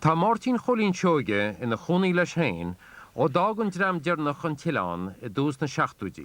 Tá Máirtín Chóilín Seoige ina chónaí leis féin ó d'fhág an dream deireanach an t-oileán i dtús na seachtóidí.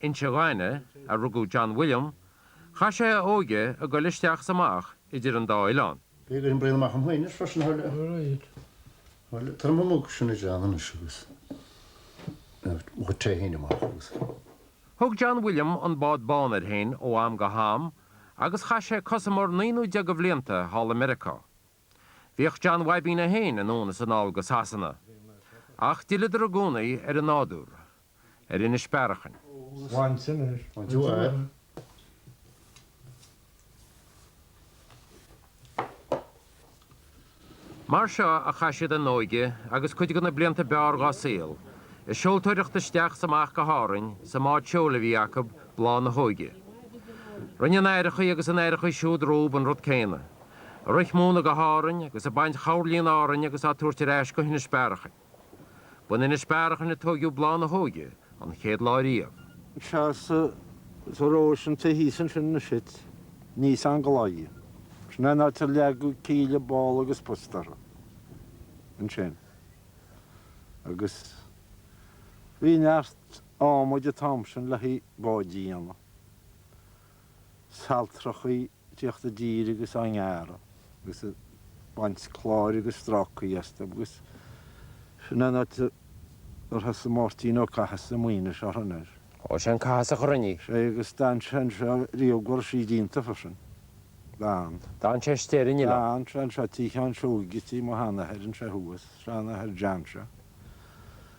Inse Ghainimh a rugadh John William, chaith sé a óige ag goil isteach is amach idir an dá oileán. Bhí ag oibriú amach an Mhuinir freisin thar lear. Tá an bunóc sin idir an anois agus an tré theine amach agus. Thug John William an bád bán air féin ó am go ham agus chaith sé cosamar naoi nó deich de bhlianta thall i Meiriceá. Bhíodh John Bhabín féin anonn is anall go Sasana. Ach d'fhilleadar i gcónaí ar an nádúr, ar Inis Bearachain. Mar seo a chaith siad a n-óige agus cuid de na blianta ab fhearr dhá saol, ag seoltóireacht isteach is amach go hÁrainn sa mbád seoil a bhí acu, Bláth na hÓige. Rinne a n-aithreachaí agus a n-aithreachaí siúd rompu an rud céanna, ag rith móna go hÁrainn agus ag baint choirlí in Árainn agus á tabhairt ar ais go hInis Bearachain. B'in Inis Bearachain a tóigeadh Bláth na hÓige an chéad lá riamh. Sea, sa Róisín taobh thíos ansin anois it níos anglaiigh. Sin é an áit ar leagadh cíle, ball agus posta uirthi ansin. Agus bhí neart ádhmaid an t-am sin le haghaidh báid a dhéanamh. saltrachaí ag tíocht i dtír agus á ngearradh agus ag baint cláir agus strácaí astu agus sin an áit ar thosaigh Máirtín Ó Cathasaigh Maoinis á sheinm air. Ó sé an Cathasach a rinne í. Sé agus d'fhan sé anseo riamh go raibh sí déanta freisin. D'fhan. D'fhan sé istigh ar an oileán. D'fhan sé anseo tigh Sheáin Seoighe, tigh mo sheanathair anseo thuas, seanathair John seo.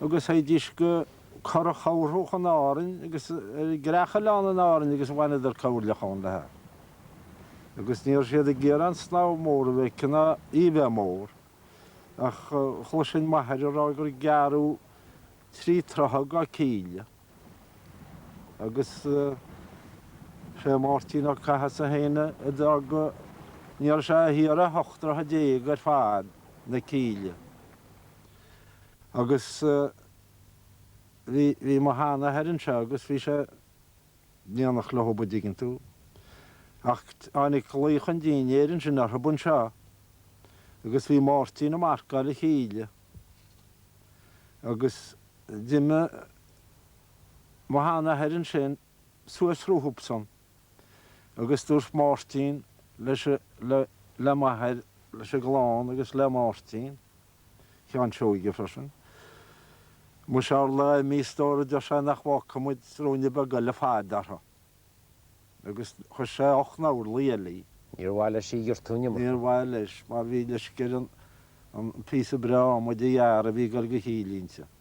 agus théidís go Currach Thabharthach in Árainn agus ar an gCreachoileán in Árainn agus bhaineadar coirleach ann léithi, agus ní raibh siad ag iarraidh an snámh mór a bheith aici ná í a bheith mór ach chloisinn m'athair ag rá gur gearradh trí troithe dá cíle agus sé Máirtín Ó Cathasaigh féin a d'fhág go Ní raibh sé ach ocht dtroithe déag ar fad na cíle. agus bhí mo sheanathair anseo agus bhí sé nimhneach le hobair dtuigeann tú. Ach tháinig glaoch an dinnéir ansin orthub anseo agus bhí Máirtín a' marcáil an chíle agus d'imigh mo sheanathair ansin suas rompusan agus dúirt Máirtín le, le m'athair, leis an gclann agus le Máirtín. Sheáin Seoige freisin. Mu tharla mo stór a deir sé nach bhfaca muid ruainne beag eile faid uirthi. Agus chuir sé ocht n-orlaí eile léi. Níor mhaith leis í a ghiortú an iomarca. Níor mhaith leis, mar bhí leisce air an píosa breá adhmaid a ghearradh a bhí ag dul do chíle inti.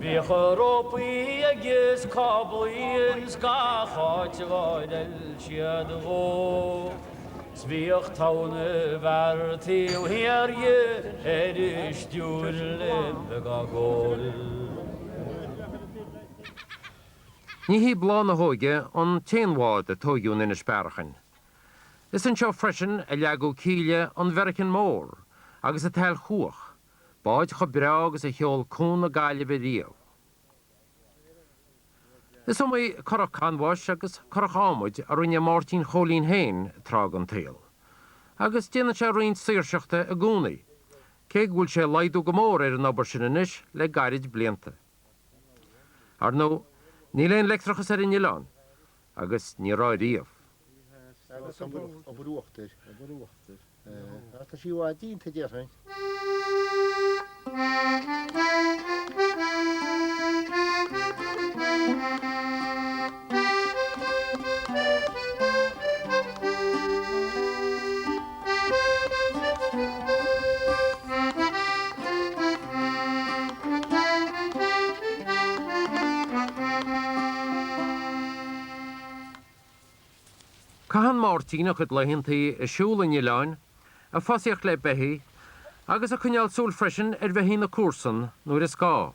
Bhíodh rópaí agus cáblaí ins gach áit a gcodail siad dhó, 'S bhíodh tóna mhear taobh thiar dhe ar a stiúir le beag a' gol. Ní hí Bláth na hÓige an t-aon bhád a tóigeadh in Inis Bearachain. Is anseo freisin a leagadh cíle an Mheiricean Mór agus an tSailchuach, báid chomh breá agus a sheol Cuan na Gaillimhe riamh. Is iomaí curach canbháis agus curach adhmaid a rinne Máirtín Chóilín féin tráth den tsaol. Agus déanann sé roinnt saoirseachta i gcónaí, cé go bhfuil sé ag laghdú go mór ar an obair sin anois le gairid blianta. Ar ndóigh, níl aon leictreachas ar an oileán. agus ní raibh riamh. Agus obair uachtair. Obair uachtair. Ach tá sí i bhfad déanta, déarfainn. Caitheann Máirtín a chuid laethanta ag siúl an oileáin, ag fosaíocht le beithígh, agus ag coinneáil súil freisin ar bheithígh na comharsan nuair is gá.